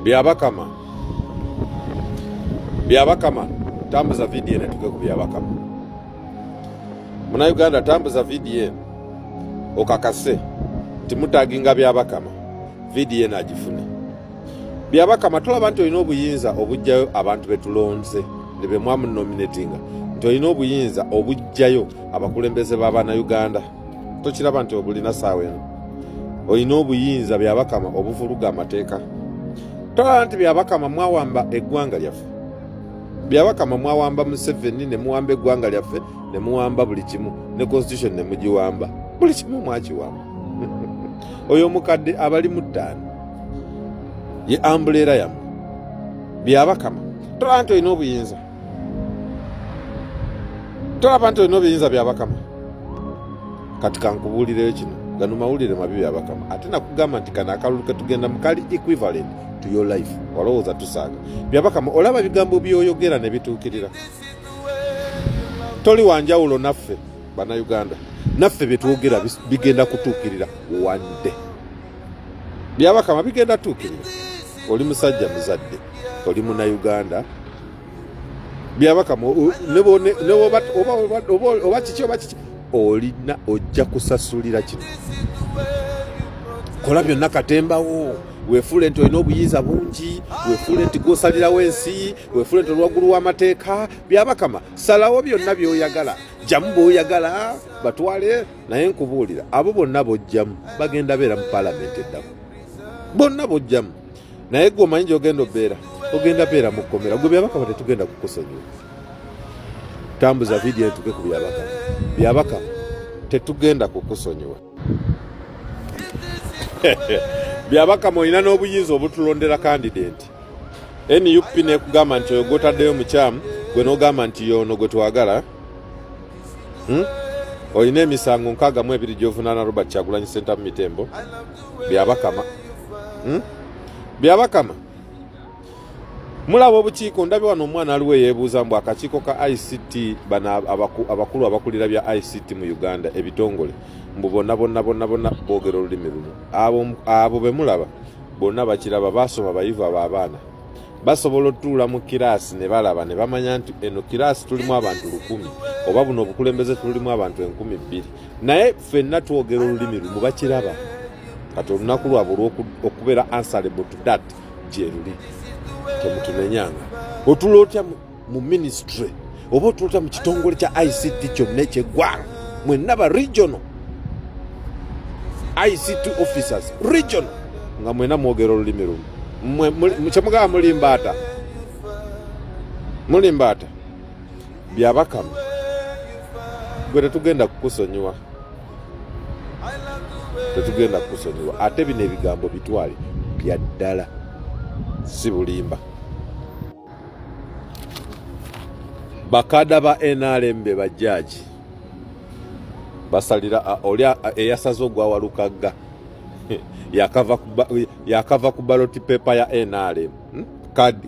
Byabakama, Byabakama, tambuza vidiyo eno tuge ku Byabakama. Munauganda, tambuza vidiyo eno okakase nti mutaginga Byabakama, vidiyo eno agifune. Byabakama, tulaba nti olina obuyinza obujjayo abantu betulonze ne bemwamunominatinga nti olina obuyinza obujjayo abakulembeze ba Bannayuganda. tokiraba nti obulina saawa eno olina obuyinza byabakama obuvuluga amateeka tolaba nti byabakama mwawamba eggwanga lyaffe byabakama mwawamba museveni nemuwamba eggwanga lyaffe nemuwamba buli kimu ne constitution nemugiwamba buli kimu mwakiwamba oyo omukadde abali mu ttaano ye ambuleera yamu byabakama tolaba nti olina obuyinza tolaba nti olina obiyinza bya bakama kati kankubuulireyo kino gano mawulire mabi bya bakama ate nakugamba nti kano akalulu ketugenda mukali equivalent to your life walowooza tusaaga bya bakama olaba ebigambo byoyogera ne bituukirira toli wanjawulo naffe bannayuganda naffe byetwogera bigenda kutuukirira one day byabakama bigenda tuukirira oli musajja muzadde oli munayuganda byabaka oba kiki oba kiki olina ojja kusasulira kino kola byonna katembawo wefuule nti olina obuyinza bungi wefuule nti gwosalirawo ensi wefuule nti olwaggulu w'amateeka byabakama salawo byonna byoyagala jjamu bwoyagala batwale naye nkubuulira abo bonna bojjamu bagenda beera mu palamenti eddamu bonna bojjamu naye gwe omanyi gyogenda obeera ogenda beera mu kkomera gwe byabakama tetugenda kukusonyiwa tambuza vidiyo etuke ku byabakama byabakama tetugenda kukusonyiwa byabakama olina n'obuyinza obutulondera kandidenti nup nekugamba nti oyo gwotaddeyo mukyamu gwe nogamba nti yoono gwe twagala hmm? olina emisango nkaaga mu ebiri gyovunaana robert kyagulanyi sentamu mitembo byabakama hmm? byabakama mulaba obukiiko ndabye wano omwana aliwo eyebuuza mbu akakiiko ka ict bano abakulu abakulira bya ict mu uganda ebitongole mbu bonna bonna bonna bonna boogera olulimi lumu abo bemulaba bonna bakiraba baasoma bayivu abo abaana basobola otuula mu kiraasi ne balaba ne bamanya nti eno kiraasi tulimu abantu lukumi oba buno obukulembeze tulimu abantu enkumi bbiri naye fenna twogera olulimi lumu bakiraba kati olunaku lwabwe olwokubeera answerable to that gyeruli temutunenyanga otula otya mu ministry oba otula otya mu kitongole kya ict kyonna ekyeggwanga mwenna ba regional ict officers regional nga mwena mwogera olulimi lumu kyemugamba mulimbaata mulimbaata Byabakama gwe tetugenda kukusonyiwa, tetugenda kukusonyiwa. Ate bino ebigambo bitwale bya ddala, si bulimba. Bakada ba NRM be bajjaaji basalira oli eyasaze ogwawalukagga yakava ku baloti pepa ya NRM. hmm?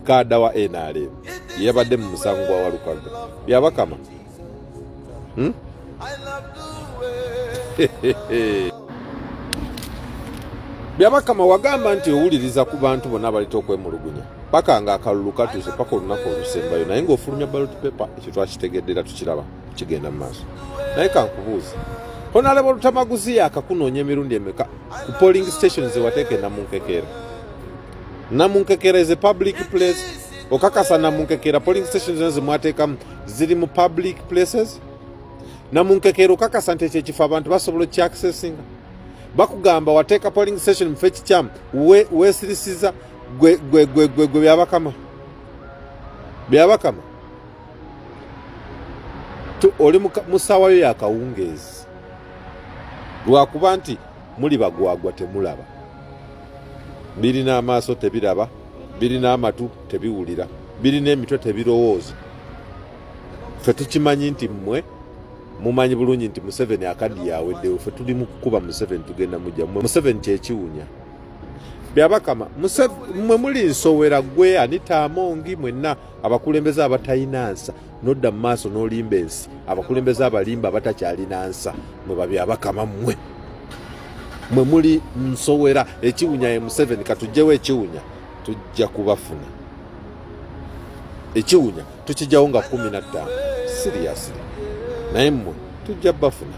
kaada wa nrm yabadde mu musango gwa walukaga byabakama hmm? byabakama wagamba nti owuliriza ku bantu bonna abaleta okwemulugunya paka nga akalulu katuuse paka olunaku olusembayo naye ngaofulumya balot paper ekyo twakitegedde era tukiraba kigenda mu maaso naye kankubuuza honalebo lutamaguzi yakakunoonya emirundi emeka ku polling station zewateeka enamunkekeera Namunkekera is a public place. Okakasa Namunkekera polling stations zino zimwateekamu ziri mu public places. Namunkekera okakasa nti ekyo ekifo abantu basobola okukyakisesinga. Bakugamba wateeka polling station mufe kikyamu weesirisiza gwe gwe gwe gwe gwe byabakama byabakama oli mu ssaawa yo yakawungeezi lwakuba nti muli bagwagwa temulaba birina amaaso tebiraba birina amatu tebiwulira birina emitwe tebirowooza fe tukimanyi nti mmwe mumanyi bulungi nti museveni akaddi yaweddewo fe tuli mu kukuba museveni tugenda mujja mwe museveni kyekiwunya byabakama mwe muli nsowera gwe anita amongi mwenna abakulembeze abatayina nsa nodda mu maaso n'olimba ensi abakulembeze abalimba abatakyalina nsa mwe babyabakama mmwe mwe muli nsowera ekiwunya ye museveni katugjewo ekiwunya tujja kubafuna ekiwunya tukijjawo nga kumi na ttaano siriyasiri naye mmwe tujja bafuna